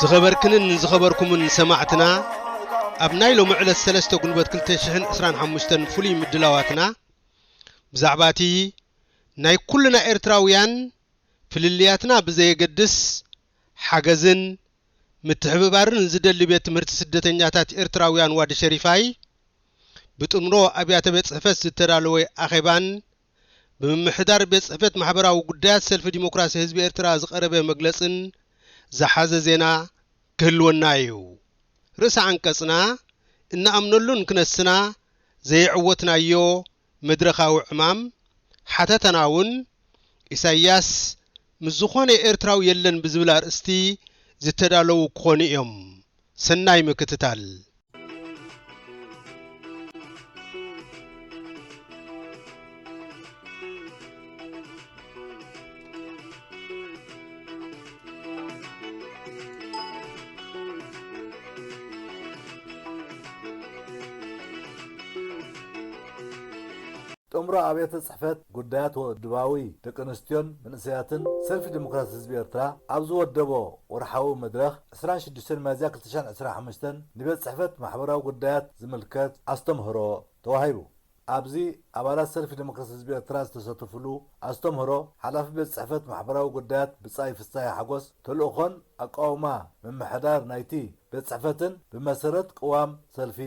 ዝኸበርክንን ንዝኸበርኩምን ሰማዕትና ኣብ ናይ ሎሚ ዕለት ሰለስተ ጉንበት ክልተ ሽሕን ዕስራን ሓሙሽተን ፍሉይ ምድላዋትና ብዛዕባ እቲ ናይ ኩልና ኤርትራውያን ፍልልያትና ብዘየገድስ ሓገዝን ምትሕብባርን ዝደሊ ቤት ትምህርቲ ስደተኛታት ኤርትራውያን ዋዲ ሸሪፋይ ብጥምሮ ኣብያተ ቤት ጽሕፈት ዝተዳለወ ኣኼባን ብምምሕዳር ቤት ጽሕፈት ማሕበራዊ ጉዳያት ሰልፊ ዲሞክራሲ ህዝቢ ኤርትራ ዝቐረበ መግለጽን ዝሓዘ ዜና ክህልወና እዩ። ርእሰ ዓንቀጽና እንኣምነሉን ክነስና ዘየዕወትናዮ መድረኻዊ ዕማም ሓተታና'ውን ኢሳይያስ ምስ ዝኾነ ኤርትራዊ የለን ብዝብል ኣርእስቲ ዝተዳለዉ ክኾኑ እዮም ሰናይ ምክትታል። ጥምሮ ኣብያተ ጽሕፈት ጉዳያት ወድባዊ ደቂ ኣንስትዮን መንእሰያትን ሰልፊ ዲሞክራሲ ህዝቢ ኤርትራ ኣብ ዝወደቦ ወርሓዊ መድረኽ፣ ዕስራን ሽዱሽተን ሚያዝያ ክልተ ሽሕን ዕስራን ሓሙሽተን ንቤት ጽሕፈት ማሕበራዊ ጉዳያት ዝምልከት ኣስተምህሮ ተዋሂቡ። ኣብዚ ኣባላት ሰልፊ ደሞክራሲ ህዝቢ ኤርትራ ዝተሰተፉሉ ኣስተምህሮ ሓላፊ ቤት ጽሕፈት ማሕበራዊ ጉዳያት ብጻይ ፍስሃየ ሓጎስ ተልእኾን ኣቃውማ ምምሕዳር ናይቲ ቤት ጽሕፈትን ብመሰረት ቅዋም ሰልፊ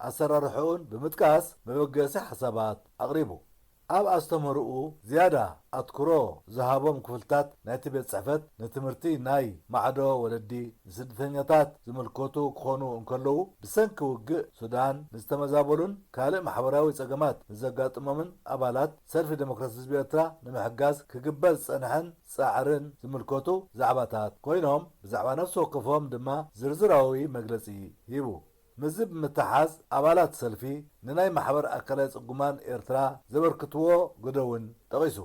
ኣሰራርሕኡን ብምጥቃስ መበገሲ ሓሳባት ኣቕሪቡ። ኣብ ኣስተምህሮኡ ዝያዳ ኣትኩሮ ዝሃቦም ክፍልታት ናይቲ ቤት ጽሕፈት ንትምህርቲ ናይ ማዕዶ ወለዲ ንስድተኛታት ዝምልከቱ ክኾኑ እንከለዉ ብሰንኪ ውግእ ሱዳን ንዝተመዛበሉን ካልእ ማሕበራዊ ጸገማት ንዘጋጥሞምን ኣባላት ሰልፊ ደሞክራሲ ህዝቢ ኤርትራ ንምሕጋዝ ክግበር ዝጸንሐን ጻዕርን ዝምልከቱ ዛዕባታት ኮይኖም ብዛዕባ ነፍሲ ወከፎም ድማ ዝርዝራዊ መግለጺ ሂቡ። ምስዚ ብምትሓሓዝ ኣባላት ሰልፊ ንናይ ማሕበር ኣካለ ጽጉማን ኤርትራ ዘበርክትዎ ግደ ውን ጠቒሱ።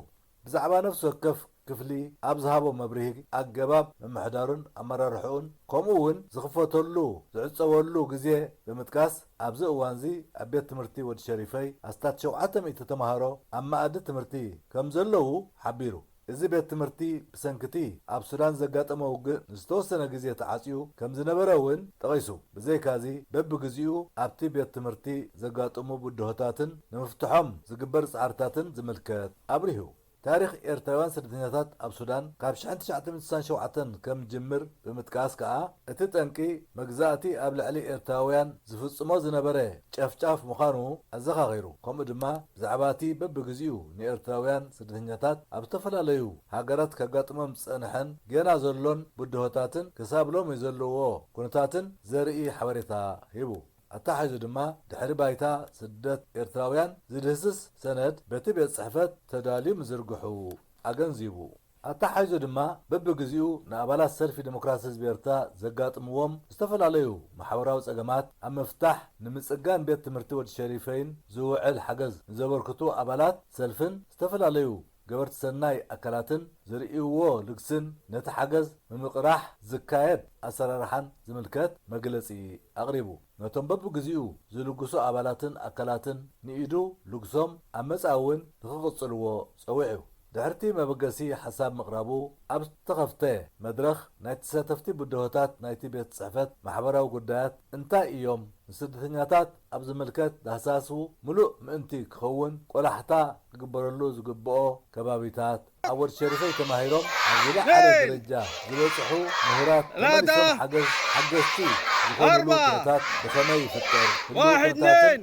ብዛዕባ ነፍሲ ወከፍ ክፍሊ ኣብ ዝሃቦ መብርሂ ኣገባብ ምምሕዳሩን ኣመራርሕኡን ከምኡ ውን ዝኽፈተሉ ዝዕጸወሉ ግዜ ብምጥቃስ ኣብዚ እዋንዚ ኣብ ቤት ትምህርቲ ወዲ ሸሪፈይ ኣስታት ሸውዓተ ሚእቲ ተማሃሮ ኣብ መኣዲ ትምህርቲ ከምዘለዉ ሓቢሩ። እዚ ቤት ትምህርቲ ብሰንኪ'ቲ ኣብ ሱዳን ዘጋጠመ ውግእ ንዝተወሰነ ግዜ ተዓጽዩ ከም ዝነበረ እውን ጠቒሱ፣ ብዘይካ'ዚ በብግዚኡ ኣብቲ ቤት ትምህርቲ ዘጋጥሙ ብድሆታትን ንምፍትሖም ዝግበር ጻዕርታትን ዝምልከት ኣብሪሁ። ታሪኽ ኤርትራውያን ስደተኛታት ኣብ ሱዳን ካብ ሽሕን ትሽዓተ ሚእትን ስሳን ሸውዓተን ከም ዝጅምር ብምጥቃስ ከኣ፣ እቲ ጠንቂ መግዛእቲ ኣብ ልዕሊ ኤርትራውያን ዝፍጽሞ ዝነበረ ጨፍጫፍ ምዃኑ ኣዘኻኺሩ፣ ከምኡ ድማ ብዛዕባ እቲ በብግዜኡ ንኤርትራውያን ስደተኛታት ኣብ ዝተፈላለዩ ሃገራት ከጋጥሞም ዝጸንሐን ጌና ዘሎን ብድሆታትን ክሳብ ሎሚ ዘለዎ ኩነታትን ዘርኢ ሓበሬታ ሂቡ። ኣተሓሒዙ ድማ ድሕሪ ባይታ ስደት ኤርትራውያን ዝድህስስ ሰነድ በቲ ቤት ጽሕፈት ተዳልዩ ምዝርግሑ ኣገንዚቡ። ኣተሓሒዙ ድማ በብግዚኡ ንኣባላት ሰልፊ ደሞክራሲ ህዝቢ ኤርትራ ዘጋጥምዎም ዝተፈላለዩ ማሕበራዊ ጸገማት ኣብ ምፍታሕ ንምጽጋን ቤት ትምህርቲ ወዲ ሸሪፈይን ዝውዕል ሓገዝ ንዘበርክቱ ኣባላት ሰልፍን ዝተፈላለዩ ገበርቲ ሰናይ ኣካላትን ዘርእይዎ ልግስን ነቲ ሓገዝ ምምቅራሕ ዝካየድ ኣሰራርሓን ዝምልከት መግለጺ ኣቅሪቡ ነቶም በብግዚኡ ዝልግሱ ኣባላትን ኣካላትን ንኢዱ ልግሶም ኣብ መጻኢ እውን ንክቅጽልዎ ጸዊዑ። ድሕሪ'ቲ መበገሲ ሓሳብ ምቕራቡ፣ ኣብ ዝተኸፍተ መድረኽ ናይ ተሳተፍቲ ብድሆታት ናይቲ ቤት ጽሕፈት ማሕበራዊ ጉዳያት እንታይ እዮም፣ ንስደተኛታት ኣብ ዝምልከት ዳህሳሱ ምሉእ ምእንቲ ክኸውን ቆላሕታ ክግበረሉ ዝግብኦ ከባቢታት፣ ኣብ ወድ ሸሪፈይ ተማሂሮም ናብ ዝለዓለ ደረጃ ዝበጽሑ ምሁራት ተመሊሶም ሓገዝ ሓገዝቲ ዝኾኑሉ ኩነታት ብኸመይ ይፍጠር፣ ህልዊ ኩነታትን።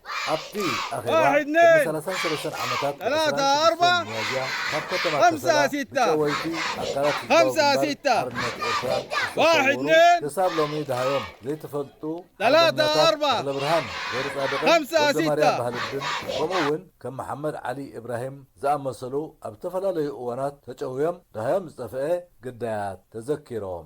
ኣብቲ ኣኼባ ቅድሚ ሰላሳን ሰለስተን ዓመታት ዕስራን ሽዱሽተን ሚያዝያ ካብ ከተማ ከሰላ ብጨወይቲ ኣካላት ህዝባዊ ግንባር ሓርነት ኤርትራ ዝተሰውሩ ክሳብ ሎሚ ደሃዮም ዘይተፈልጡ ሓርበኛታት ተኽለብርሃን ገይረጻድቕን ወልደማርያም ባህልብን ከምኡ እውን ከም መሓመድ ዓሊ ኢብራሂም ዝኣመሰሉ ኣብ ዝተፈላለዩ እዋናት ተጨውዮም ደሃዮም ዝጠፍአ ግዳያት ተዘኪሮም።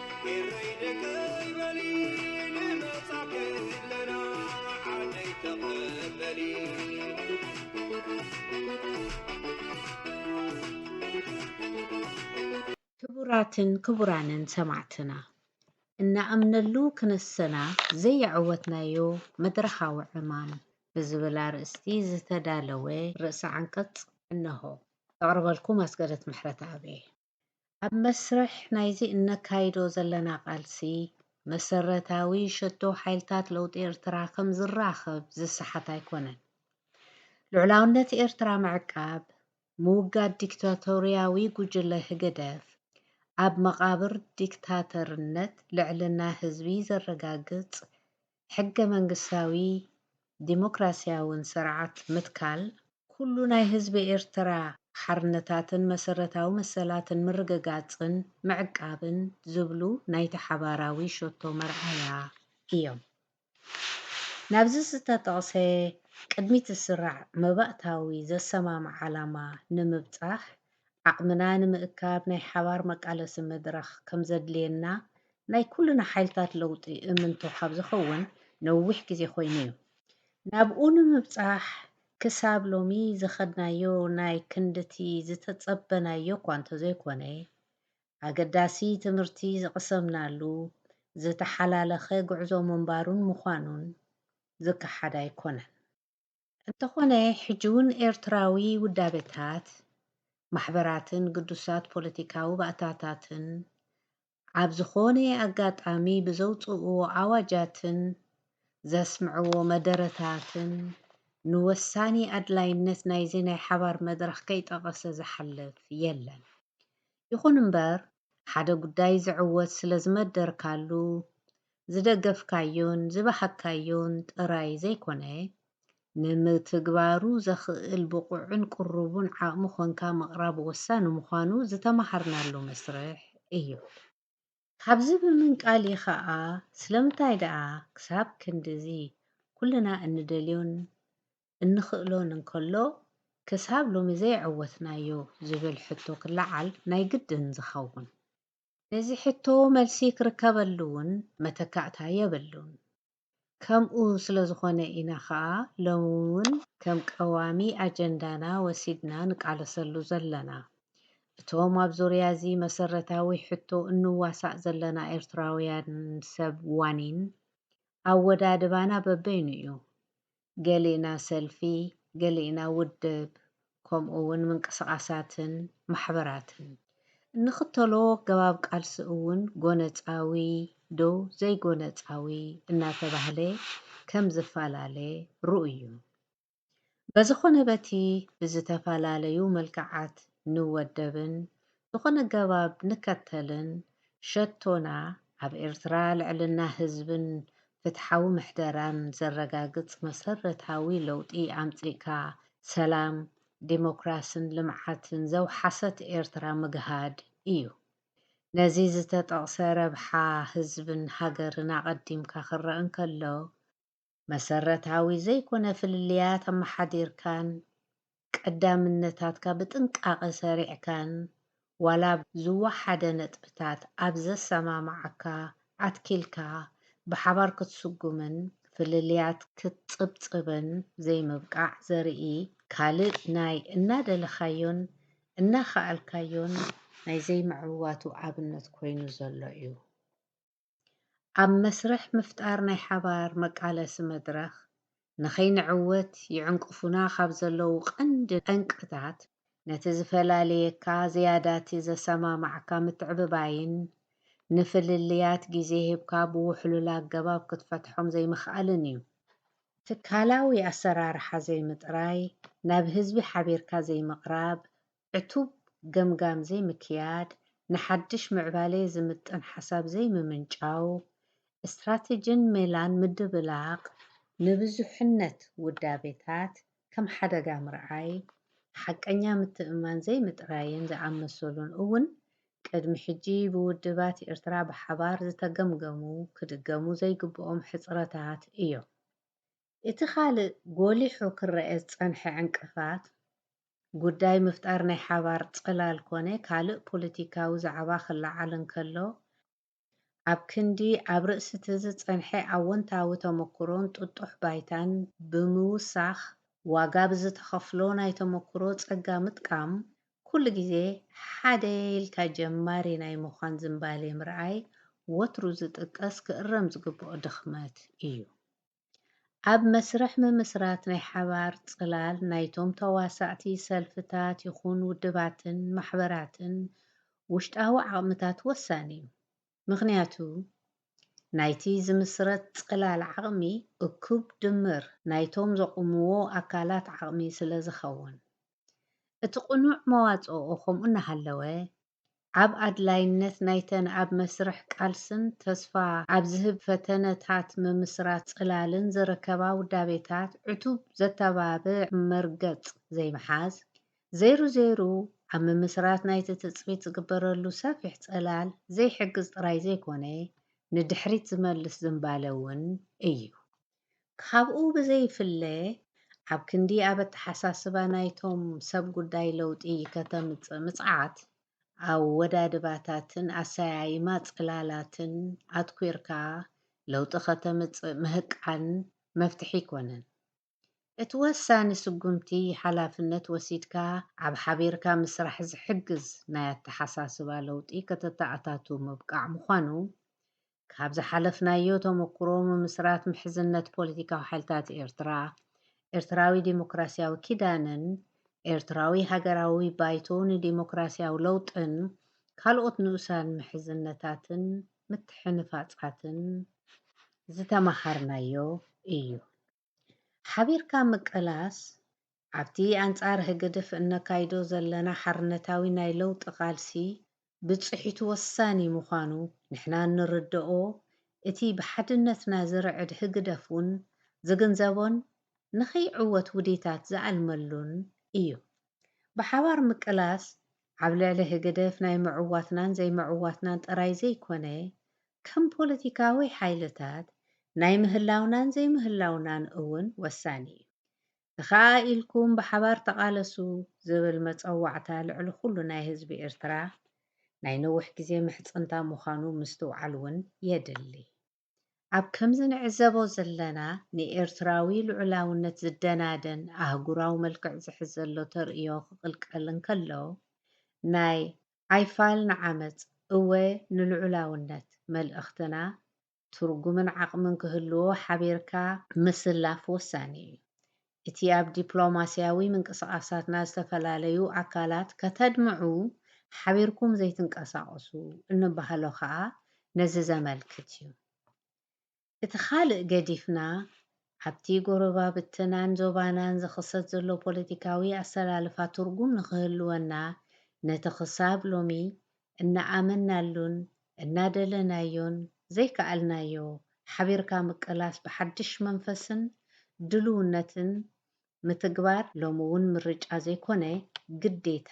ኤረይ ደቀይ በሊ ንመጻኪ ኣለና ዓደይ ተቀበሊ። ክቡራትን ክቡራንን ሰማዕትና እንኣምነሉ ክነሰና ዘየዕወትናዮ መድረኻዊ ዕማም ብዝብል ኣርእስቲ ዝተዳለወ ርእሰ ዓንቀጽ እነሆ። ዘቕርበልኩም ኣስገደት ምሕረተኣብ እየ። ኣብ መስርሕ ናይዚ እነካይዶ ዘለና ቃልሲ፣ መሰረታዊ ሸቶ ሓይልታት ለውጢ ኤርትራ ከም ዝራኸብ ዝሰሓት ኣይኮነን። ልዑላውነት ኤርትራ ምዕቃብ፣ ምውጋድ ዲክታቶርያዊ ጉጅለ ህግደፍ፣ ኣብ መቓብር ዲክታተርነት ልዕልና ህዝቢ ዘረጋግጽ ሕገ መንግስታዊ ዲሞክራሲያውን ስርዓት ምትካል፣ ኩሉ ናይ ህዝቢ ኤርትራ ሓርነታትን መሰረታዊ መሰላትን ምርግጋጽን ምዕቃብን ዝብሉ ናይቲ ሓባራዊ ሸቶ መርኣያ እዮም። ናብዚ ዝተጠቕሰ ቅድሚት ዝስራዕ መባእታዊ ዘሰማምዕ ዓላማ ንምብጻሕ፣ ዓቕምና ንምእካብ ናይ ሓባር መቃለሲ መድረኽ ከምዘድልየና ናይ ኩልና ሓይልታት ለውጢ እምንቶ ካብ ዝኸውን ነዊሕ ግዜ ኮይኑ እዩ። ናብኡ ንምብጻሕ ክሳብ ሎሚ ዝኸድናዮ ናይ ክንድቲ ዝተጸበናዮ እኳ እንተዘይኮነ፣ ኣገዳሲ ትምህርቲ ዝቕሰምናሉ ዝተሓላለኸ ጉዕዞ ምንባሩን ምዃኑን ዝከሓድ ኣይኮነን። እንተኾነ ሕጂውን ኤርትራዊ ውዳበታት፣ ማሕበራትን ግዱሳት ፖለቲካዊ ባእታታትን ኣብ ዝኾነ ኣጋጣሚ ብዘውጽእዎ ኣዋጃትን ዘስምዕዎ መደረታትን ንወሳኒ ኣድላይነት ናይዚ ናይ ሓባር መድረኽ ከይጠቐሰ ዝሓልፍ የለን። ይኹን እምበር ሓደ ጉዳይ ዝዕወት ስለዝመደርካሉ ዝደገፍካዮን ዝበሓግካዮን ጥራይ ዘይኮነ፣ ንምትግባሩ ዘኽእል ብቑዕን ቅሩቡን ዓቕሚ ኮንካ ምቕራብ ወሳኒ ምዃኑ ዝተመሃርናሉ መስርሕ እዩ። ካብዚ ብምንቃል እዩ ከኣ ስለምንታይ ደኣ ክሳብ ክንድዚ ኩልና እንደልዮን እንኽእሎን እንከሎ ክሳብ ሎሚ ዘይዐወትናዮ ዝብል ሕቶ ክለዓል ናይ ግድን ዝኸውን። ነዚ ሕቶ መልሲ ክርከበሉ ውን መተካእታ የብሉን። ከምኡ ስለዝኾነ ኢና ከኣ ሎሚ ውን ከም ቀዋሚ ኣጀንዳና ወሲድና ንቃለሰሉ ዘለና። እቶም ኣብ ዙርያ እዚ መሰረታዊ ሕቶ እንዋሳእ ዘለና ኤርትራውያን ሰብ ዋኒን ኣወዳድባና በበይኑ እዩ። ገሊእና ሰልፊ፣ ገሊእና ውድብ ከምኡ ውን ምንቅስቓሳትን ማሕበራትን። እንኽተሎ ኣገባብ ቃልሲ እውን ጎነጻዊ ዶ ዘይጎነጻዊ እናተባህለ ከም ዝፈላለ ርኡይ ዩ። በዝኾነ በቲ ብዝተፈላለዩ መልክዓት ንወደብን ዝኾነ ገባብ ንከተልን ሸቶና ኣብ ኤርትራ ልዕልና ህዝብን ፍትሓዊ ምሕደራን ዘረጋግጽ መሰረታዊ ለውጢ ኣምጺእካ ሰላም፣ ዲሞክራስን ልምዓትን ዘውሓሰት ኤርትራ ምግሃድ እዩ። ነዚ ዝተጠቕሰ ረብሓ ህዝብን ሃገርን ኣቐዲምካ ክረእ እንከሎ መሰረታዊ ዘይኮነ ፍልልያት ኣመሓዲርካን ቀዳምነታትካ ብጥንቃቐ ሰሪዕካን ዋላ ኣብ ዝወሓደ ነጥብታት ኣብ ዘሰማምዓካ ኣትኪልካ ብሓባር ክትስጉምን ፍልልያት ክትጽብጽብን ዘይምብቃዕ ዘርኢ ካልእ ናይ እናደለኻዮን እናኸኣልካዮን ናይ ዘይምዕዋቱ ኣብነት ኮይኑ ዘሎ እዩ። ኣብ መስርሕ ምፍጣር ናይ ሓባር መቃለሲ መድረኽ ንኸይንዕወት ይዕንቅፉና ካብ ዘለዉ ቀንዲ ጠንቅታት ነቲ ዝፈላልየካ ዝያዳቲ ዘሰማማዕካ ምትዕብባይን ንፍልልያት ግዜ ሂብካ ብውሕሉል ኣገባብ ክትፈትሖም ዘይምኽኣልን እዩ። ትካላዊ ኣሰራርሓ ዘይምጥራይ፣ ናብ ህዝቢ ሓቢርካ ዘይምቕራብ፣ ዕቱብ ገምጋም ዘይምክያድ፣ ንሓድሽ ምዕባሌ ዝምጥን ሓሳብ ዘይምምንጫው፣ ስትራቴጂን ሜላን ምድብላቕ፣ ንብዙሕነት ውዳቤታት ከም ሓደጋ ምርኣይ፣ ሓቀኛ ምትእምማን ዘይምጥራይን ዝኣመሰሉን እውን ቅድሚ ሕጂ ብውድባት ኤርትራ ብሓባር ዝተገምገሙ ክድገሙ ዘይግብኦም ሕጽረታት እዮም። እቲ ካልእ ጎሊሑ ክረኣ ዝጸንሐ ዕንቅፋት፣ ጉዳይ ምፍጣር ናይ ሓባር ጽላል ኮነ ካልእ ፖለቲካዊ ዛዕባ ክለዓል እንከሎ፣ ኣብ ክንዲ ኣብ ርእሲ'ቲ ዝጸንሐ ኣወንታዊ ተመኩሮን ጥጡሕ ባይታን ብምውሳኽ ዋጋ ብዝተኸፍሎ ናይ ተመኩሮ ጸጋ ምጥቃም፣ ኩሉ ግዜ ሓደ ኢልካ ጀማሪ ናይ ምዃን ዝንባሌ ምርኣይ ወትሩ ዝጥቀስ ክእረም ዝግብኦ ድኽመት እዩ። ኣብ መስርሕ ምምስራት ናይ ሓባር ጽላል ናይቶም ተዋሳእቲ ሰልፍታት ይኹን ውድባትን ማሕበራትን ውሽጣዊ ዓቕምታት ወሳኒ እዩ። ምኽንያቱ ናይቲ ዝምስረት ጽላል ዓቕሚ እኩብ ድምር ናይቶም ዘቑምዎ ኣካላት ዓቕሚ ስለዝኸውን። እቲ ቅኑዕ መዋጽኦ ከምኡ እናሃለወ ኣብ ኣድላይነት ናይተን ኣብ መስርሕ ቃልስን ተስፋ ኣብ ዝህብ ፈተነታት ምምስራት ጽላልን ዝርከባ ውዳቤታት ዕቱብ ዘተባብዕ መርገጽ ዘይምሓዝ፣ ዘይሩ ዘይሩ ኣብ ምምስራት ናይቲ ትጽቢት ዝግበረሉ ሰፊሕ ጽላል ዘይሕግዝ ጥራይ ዘይኮነ፣ ንድሕሪት ዝመልስ ዝምባለ እውን እዩ። ካብኡ ብዘይፍለ ኣብ ክንዲ ኣብ ኣተሓሳስባ ናይቶም ሰብ ጉዳይ ለውጢ ከተምጽእ ምጽዓት፣ ኣወዳድባታትን ኣሰያይማ ጽላላትን ኣትኲርካ ለውጢ ከተምጽእ ምህቃን መፍትሒ ኣይኮነን። እቲ ወሳኒ ስጉምቲ ሓላፍነት ወሲድካ ኣብ ሓቢርካ ምስራሕ ዝሕግዝ ናይ ኣተሓሳስባ ለውጢ ከተተኣታቱ ምብቃዕ ምዃኑ ካብ ዝሓለፍናዮ ተመኩሮ ምምስራት ምሕዝነት ፖለቲካዊ ሓይልታት ኤርትራ፣ ኤርትራዊ ዲሞክራሲያዊ ኪዳንን ኤርትራዊ ሃገራዊ ባይቶ ንዲሞክራሲያዊ ለውጥን ካልኦት ንኡሳን ምሕዝነታትን ምትሕንፋጻትን ዝተማሃርናዮ እዩ። ሓቢርካ ምቅላስ ኣብቲ ኣንጻር ህግድፍ እነካይዶ ዘለና ሓርነታዊ ናይ ለውጢ ቃልሲ ብጽሒቱ ወሳኒ ምዃኑ ንሕና እንርደኦ እቲ ብሓድነትና ዝርዕድ ህግደፍ ውን ዝግንዘቦን ንኸይዕወት ውዲታት ዝኣልመሉን እዩ። ብሓባር ምቅላስ ኣብ ልዕሊ ህግደፍ ናይ ምዕዋትናን ዘይምዕዋትናን ጥራይ ዘይኮነ፣ ከም ፖለቲካዊ ሓይልታት ናይ ምህላውናን ዘይምህላውናን እውን ወሳኒ እዩ። ተኻኣ ኢልኩም ብሓባር ተቓለሱ ዝብል መጸዋዕታ ልዕሊ ኩሉ ናይ ህዝቢ ኤርትራ ናይ ነዊሕ ግዜ ምሕጽንታ ምዃኑ ምስትውዓል እውን የድሊ። ኣብ ከምዚ ንዕዘቦ ዘለና ንኤርትራዊ ልዑላውነት ዝደናደን ኣህጉራዊ መልክዕ ዝሕዝ ዘሎ ተርእዮ ክቕልቀል እንከሎ፣ ናይ ኣይፋል ንዓመጽ እወ ንልዑላውነት መልእኽትና ትርጉምን ዓቕምን ክህልዎ ሓቢርካ ምስላፍ ወሳኒ እዩ። እቲ ኣብ ዲፕሎማሲያዊ ምንቅስቓሳትና ዝተፈላለዩ ኣካላት ከተድምዑ ሓቢርኩም ዘይትንቀሳቐሱ እንባሃሎ ከኣ ነዚ ዘመልክት እዩ። እቲ ካልእ ገዲፍና ኣብቲ ጎረባብትናን ዞባናን ዝኽሰት ዘሎ ፖለቲካዊ ኣሰላልፋ ትርጉም ንኽህልወና ነቲ ክሳብ ሎሚ እናኣመንናሉን እናደለናዮን ዘይከኣልናዮ ሓቢርካ ምቅላስ ብሓድሽ መንፈስን ድሉውነትን ምትግባር ሎሚ እውን ምርጫ ዘይኮነ ግዴታ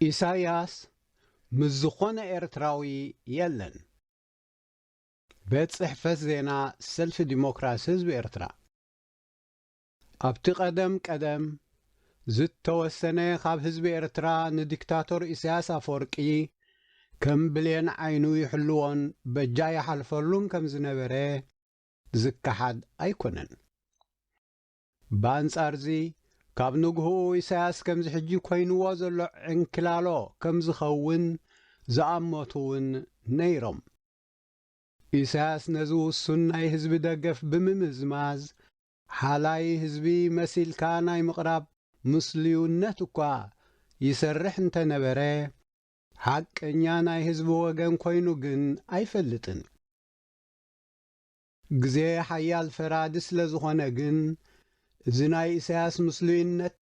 ኢሳያስ ምስ ዝኾነ ኤርትራዊ የለን። ቤት ጽሕፈት ዜና ሰልፊ ዲሞክራሲ ህዝቢ ኤርትራ፣ ኣብቲ ቀደም ቀደም ዝተወሰነ ካብ ህዝቢ ኤርትራ ንዲክታቶር ኢሳያስ ኣፈወርቂ ከም ብሌን ዓይኑ ይሕልዎን በጃ ይሓልፈሉን ከም ዝነበረ ዝከሓድ ኣይኮነን። ብኣንጻርዚ፣ ካብ ንግሆኡ ኢሳያስ ከምዚ ሕጂ ኮይንዎ ዘሎ ዕንኪላሎ ከም ዝኸውን ዝኣመቱ'ውን ነይሮም። ኢሳያስ ነዚ ውሱን ናይ ህዝቢ ደገፍ ብምምዝማዝ፣ ሓላይ ህዝቢ መሲልካ ናይ ምቕራብ ምስሉዩነት እኳ ይሰርሕ እንተ ነበረ፣ ሓቀኛ ናይ ህዝቢ ወገን ኮይኑ ግን ኣይፈልጥን። ግዜ ሓያል ፈራዲ ስለ ዝኾነ ግን እዚ ናይ ኢሳያስ ምስሉይነት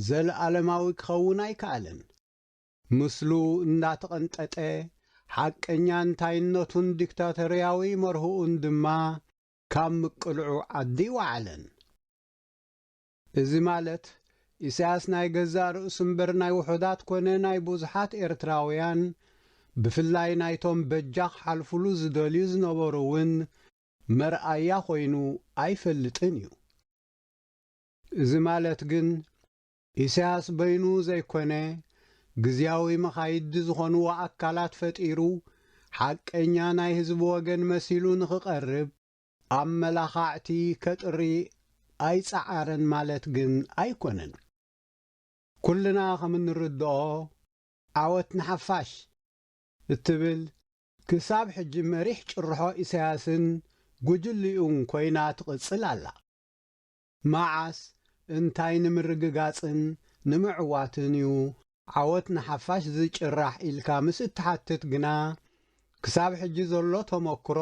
ዘለኣለማዊ ክኸውን ኣይከኣለን። ምስሉ እንዳተቐንጠጠ ሓቀኛ እንታይነቱን ዲክታቶርያዊ መርህኡን ድማ ካብ ምቅልዑ ዓዲ ኣይወዓለን። እዚ ማለት ኢሳያስ ናይ ገዛእ ርእሱ እምበር ናይ ውሑዳት ኮነ ናይ ብዙሓት ኤርትራውያን ብፍላይ ናይቶም በጃ ክሓልፉሉ ዝደልዩ ዝነበሩ እውን መርኣያ ኮይኑ ኣይፈልጥን እዩ። እዚ ማለት ግን ኢሳያስ በይኑ ዘይኮነ ግዝያዊ መኻይዲ ዝኾንዎ ኣካላት ፈጢሩ ሓቀኛ ናይ ህዝቢ ወገን መሲሉ ንክቐርብ፣ ኣመላኻዕቲ ከጥሪ ኣይጸዓረን ማለት ግን ኣይኮነን። ኩልና ከም እንርድኦ ዓወት ንሓፋሽ እትብል ክሳብ ሕጂ መሪሕ ጭርሖ ኢሳያስን ጉጅልኡን ኮይና ትቕጽል ኣላ። መዓስ፣ እንታይ ንምርግጋጽን ንምዕዋትን እዩ ዓወት ንሓፋሽ ዝጭራሕ ኢልካ ምስ እትሓትት ግና፣ ክሳብ ሕጂ ዘሎ ተመኩሮ፣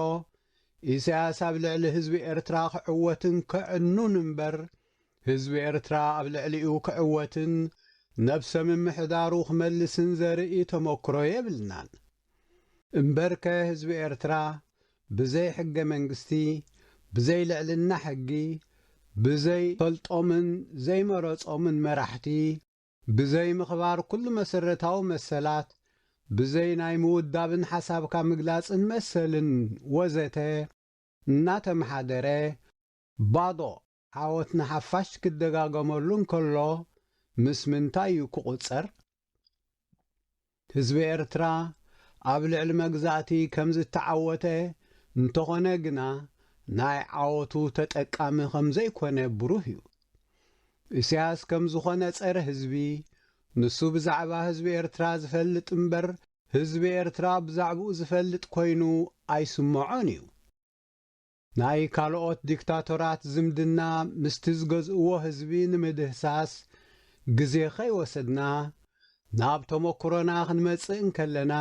ኢሳያስ ኣብ ልዕሊ ህዝቢ ኤርትራ ክዕወትን ከዕኑን እምበር፣ ህዝቢ ኤርትራ ኣብ ልዕሊኡ ክዕወትን ነብሰ-ምምሕዳሩ ክመልስን ዘርኢ ተመኩሮ የብልናን። እምበርከ ህዝቢ ኤርትራ ብዘይ ሕገ መንግስቲ ብዘይ ልዕልና ሕጊ ብዘይ ፈልጦምን ዘይመረጾምን መራሕቲ ብዘይ ምኽባር ኩሉ መሰረታዊ መሰላት ብዘይ ናይ ምውዳብን ሓሳብካ ምግላጽን መሰልን ወዘተ እናተመሓደረ ባዶ ዓወት ንሓፋሽ ክደጋገመሉ እንከሎ ምስ ምንታይ እዩ ክቑጸር? ህዝቢ ኤርትራ ኣብ ልዕሊ መግዛእቲ ከም ዝተዓወተ፣ እንተኾነ ግና ናይ ዓወቱ ተጠቃሚ ከም ዘይኮነ ብሩህ እዩ። ኢሳያስ ከም ዝኾነ ጸረ ህዝቢ፣ ንሱ ብዛዕባ ህዝቢ ኤርትራ ዝፈልጥ እምበር ህዝቢ ኤርትራ ብዛዕብኡ ዝፈልጥ ኮይኑ ኣይስመዖን እዩ። ናይ ካልኦት ዲክታቶራት ዝምድና ምስቲ ዝገዝእዎ ህዝቢ ንምድህሳስ ግዜ ከይወሰድና ናብ ተሞኩሮና ክንመጽእ እንከለና፣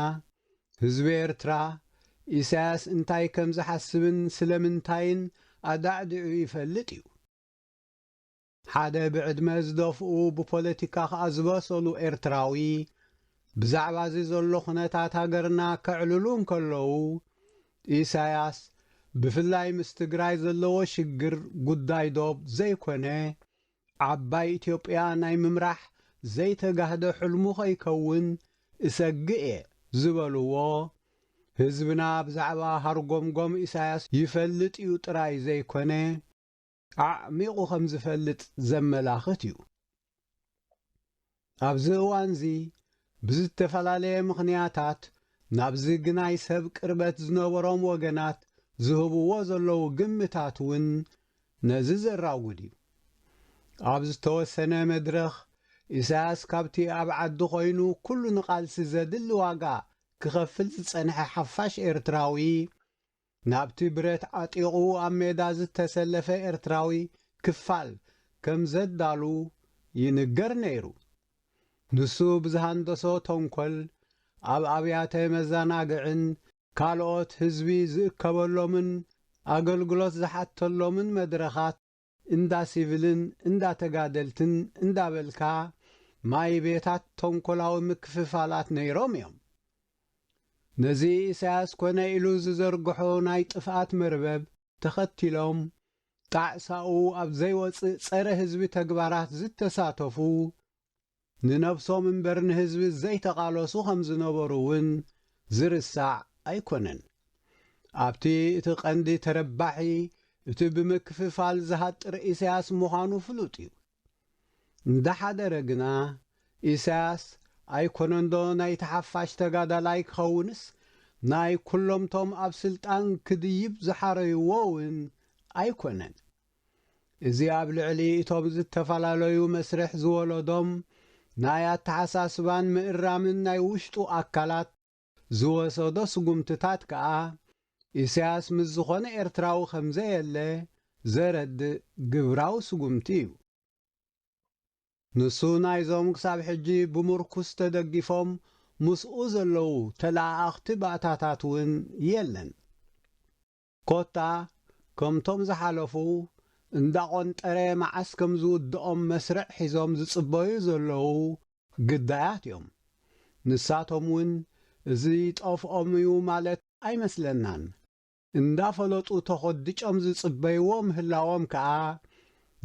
ህዝቢ ኤርትራ ኢሳያስ እንታይ ከምዝሓስብን ስለምንታይን ኣዳዕዲዑ ይፈልጥ እዩ። ሓደ ብዕድመ ዝደፍኡ ብፖለቲካ ከኣ ዝበሰሉ ኤርትራዊ ብዛዕባ እዚ ዘሎ ኩነታት ሃገርና ከዕልሉ እንከለዉ ኢሳያስ ብፍላይ ምስ ትግራይ ዘለዎ ሽግር ጉዳይ ዶብ ዘይኮነ ዓባይ ኢትዮጵያ ናይ ምምራሕ ዘይተጋህደ ሕልሙ ከይከውን እሰግእ እየ ዝበልዎ ህዝብና ብዛዕባ ሃርጎምጎም ኢሳያስ ይፈልጥ እዩ ጥራይ ዘይኮነ ኣዕሚቑ ከም ዝፈልጥ ዘመላኽት እዩ። ኣብዚ እዋንዚ ብዝተፈላለየ ምኽንያታት ናብዚ ግናይ ሰብ ቅርበት ዝነበሮም ወገናት ዝህብዎ ዘለዉ ግምታት እውን ነዚ ዘራጉድ እዩ። ኣብ ዝተወሰነ መድረኽ ኢሳያስ ካብቲ ኣብ ዓዲ ኮይኑ ኩሉ ንቓልሲ ዘድሊ ዋጋ ክኸፍል ዝጸንሐ ሓፋሽ ኤርትራዊ፣ ናብቲ ብረት ዓጢቑ ኣብ ሜዳ ዝተሰለፈ ኤርትራዊ ክፋል ከም ዘዳሉ ይንገር ነይሩ። ንሱ ብዝሃንደሶ ተንኮል ኣብ ኣብያተ መዛናግዕን ካልኦት ህዝቢ ዝእከበሎምን ኣገልግሎት ዝሓተሎምን መድረኻት፣ እንዳ ሲቭልን እንዳ ተጋደልትን እንዳበልካ ማይ ቤታት ተንኮላዊ ምክፍፋላት ነይሮም እዮም። ነዚ ኢሳያስ ኮነ ኢሉ ዝዘርግሖ ናይ ጥፍኣት መርበብ ተኸቲሎም ጣዕሳኡ ኣብ ዘይወጽእ ጸረ ህዝቢ ተግባራት ዝተሳተፉ ንነብሶም እምበር ንህዝቢ ዘይተቓለሱ ከም ዝነበሩ እውን ዝርሳዕ ኣይኮነን። ኣብቲ እቲ ቀንዲ ተረባሒ እቲ ብምክፍፋል ዝሃጥር ኢሳያስ ምዃኑ ፍሉጥ እዩ። እንዳሓደረ ግና ኢሳያስ ኣይኮነንዶ ናይቲ ሓፋሽ ተጋዳላይ ክኸውንስ ናይ ኩሎምቶም ኣብ ስልጣን ክድይብ ዝሓረዩዎ እውን ኣይኮነን። እዚ ኣብ ልዕሊ እቶም ዝተፈላለዩ መስርሕ ዝወለዶም ናይ ኣተሓሳስባን ምእራምን ናይ ውሽጡ ኣካላት ዝወሰዶ ስጉምትታት ከኣ ኢሳያስ ምስ ዝኾነ ኤርትራዊ ከምዘየለ ዘረድእ ግብራዊ ስጉምቲ እዩ። ንሱ ናይዞም ክሳብ ሕጂ ብምርኩስ ተደጊፎም ምስኡ ዘለዉ ተለኣኣኽቲ ባእታታት እውን የለን። ኮታ ከምቶም ዝሓለፉ እንዳቆንጠረ መዓስ ከም ዝውድኦም መስርዕ ሒዞም ዝጽበዩ ዘለዉ ግዳያት እዮም። ንሳቶም ውን እዚ ጠፍኦም እዩ ማለት ኣይመስለናን። እንዳፈለጡ ተኾድጮም ዝጽበይዎ ምህላዎም ከኣ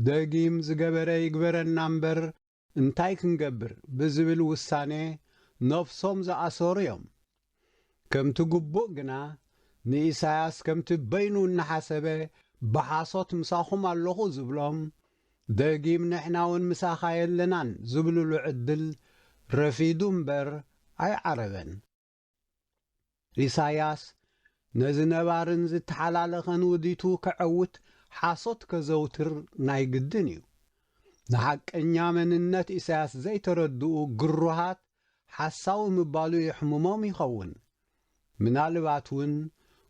ደጊም ዝገበረ ይግበረና እምበር እንታይ ክንገብር ብዝብል ውሳነ ነፍሶም ዝኣሰሩ እዮም። ከምቲ ግቡእ ግና ንኢሳያስ ከምቲ በይኑ እናሓሰበ ብሓሶት ምሳኹም ኣለኹ ዝብሎም፣ ደጊም ንሕናውን ምሳኻ የለናን ዝብልሉ ዕድል ረፊዱ እምበር ኣይዓረበን። ኢሳያስ ነዚ ነባርን ዝተሓላለኸን ውዲቱ ከዐውት ሓሶት ከዘውትር ናይ ግድን እዩ። ንሓቀኛ መንነት ኢሳያስ ዘይተረድኡ ግሩሃት ሓሳዊ ምባሉ የሕምሞም ይኸውን። ምናልባት እውን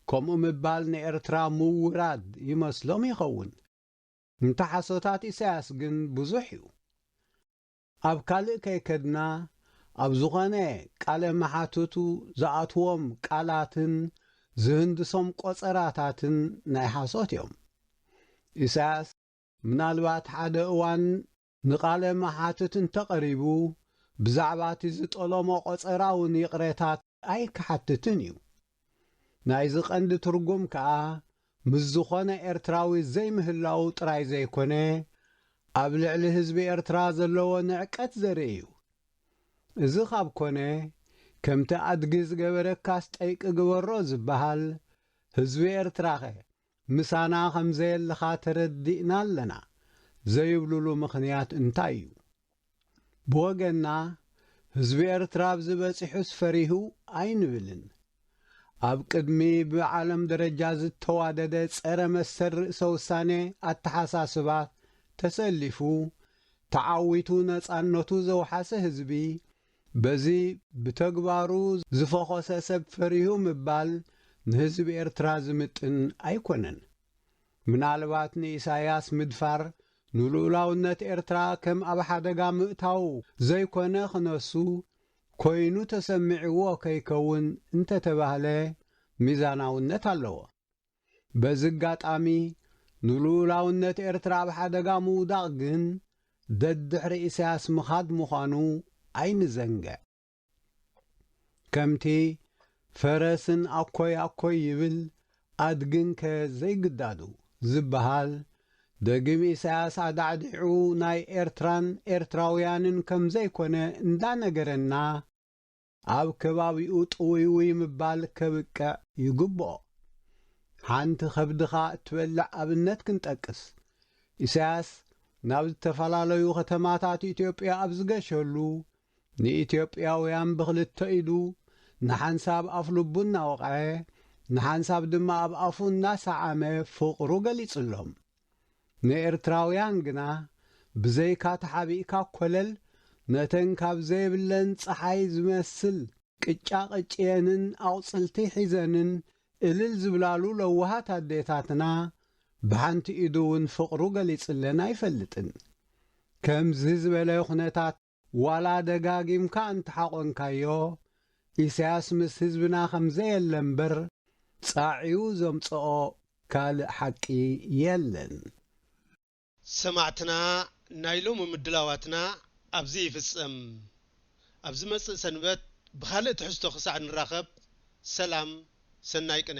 ከምኡ ምባል ንኤርትራ ምውራድ ይመስሎም ይኸውን። እንተ ሓሶታት ኢሳያስ ግን ብዙሕ እዩ። ኣብ ካልእ ከይከድና ኣብ ዝኾነ ቃለ መሓትቱ ዝኣትዎም ቃላትን ዝህንድሶም ቆጸራታትን ናይ ሓሶት እዮም። ኢሳያስ ምናልባት ሓደ እዋን ንቃለ መሓትት እንተቐሪቡ ብዛዕባቲ ዝጠሎሞ ቆጸራውን ይቕሬታ ኣይክሓትትን እዩ። ናይዚ ቀንዲ ትርጉም ከኣ ምስ ዝኾነ ኤርትራዊ ዘይምህላዉ ጥራይ ዘይኮነ፣ ኣብ ልዕሊ ህዝቢ ኤርትራ ዘለዎ ንዕቀት ዘርኢ እዩ። እዚ ካብ ኮነ፣ ከምቲ ኣድጊ ዝገበረካስ ጠይቂ ግበሮ ዝበሃል፣ ህዝቢ ኤርትራኸ ምሳና ከም ዘየለኻ ተረዲእና ኣለና ዘይብሉሉ ምኽንያት እንታይ እዩ? ብወገንና ህዝቢ ኤርትራ ኣብዚ በጺሑስ ፈሪሁ ኣይንብልን። ኣብ ቅድሚ ብዓለም ደረጃ ዝተዋደደ ጸረ መሰል ርእሰ ውሳኔ ኣተሓሳስባ ተሰሊፉ ተዓዊቱ ነጻነቱ ዘውሓሰ ህዝቢ፣ በዚ ብተግባሩ ዝፈኾሰ ሰብ ፈሪሁ ምባል ንህዝቢ ኤርትራ ዝምጥን ኣይኮነን። ምናልባት ንኢሳያስ ምድፋር ንልኡላውነት ኤርትራ ከም ኣብ ሓደጋ ምእታው ዘይኮነ ክነሱ ኮይኑ ተሰሚዕዎ ከይከውን እንተተባህለ ሚዛናውነት ኣለዎ። በዚ ኣጋጣሚ ንልኡላውነት ኤርትራ ኣብ ሓደጋ ምውዳቕ ግን ደድሕሪ ኢሳያስ ምኻድ ምዃኑ ኣይንዘንግዕ። ከምቲ ፈረስን ኣኮይ ኣኮይ ይብል ኣድግንከ ዘይግዳዱ ዝበሃል፣ ደጊም ኢሳያስ ኣዳዕዲዑ ናይ ኤርትራን ኤርትራውያንን ከምዘይኮነ እንዳነገረና፣ ኣብ ከባቢኡ ጥውይውይ ምባል ከብቅዕ ይግብኦ። ሓንቲ ከብድኻ እትበልዕ ኣብነት ክንጠቅስ። ኢሳያስ ናብ ዝተፈላለዩ ከተማታት ኢትዮጵያ ኣብ ዝገሸሉ፣ ንኢትዮጵያውያን ብኽልተ ኢዱ፣ ንሓንሳብ ኣፍልቡ እናወቕዐ፣ ንሓንሳብ ድማ ኣብ ኣፉ እናሰዓመ ፍቕሩ ገሊጽሎም። ንኤርትራውያን ግና ብዘይካ ተሓቢእካ ኮለል ነተን ካብ ዘይብለን ጸሓይ ዝመስል ቅጫ ቀጭየንን ኣቑጽልቲ ሒዘንን እልል ዝብላሉ ለዋሃት ኣዴታትና ብሓንቲ ኢዱ ውን ፍቕሩ ገሊጽለን ኣይፈልጥን። ከምዚ ዝበለ ኩነታት። ዋላ ደጋጊምካ እንተሓቆንካዮ ኢሳያስ ምስ ህዝብና ከምዘየለ እምበር ጻዒዩ ዘምጸኦ ካልእ ሓቂ የለን። ሰማዕትና ናይ ሎሚ ምድላዋትና ኣብዚ ይፍጸም። ኣብ ዝመጽእ ሰንበት ብኻልእ ትሕዝቶ ክሳዕ ንራኸብ ሰላም ሰናይ ቅነ።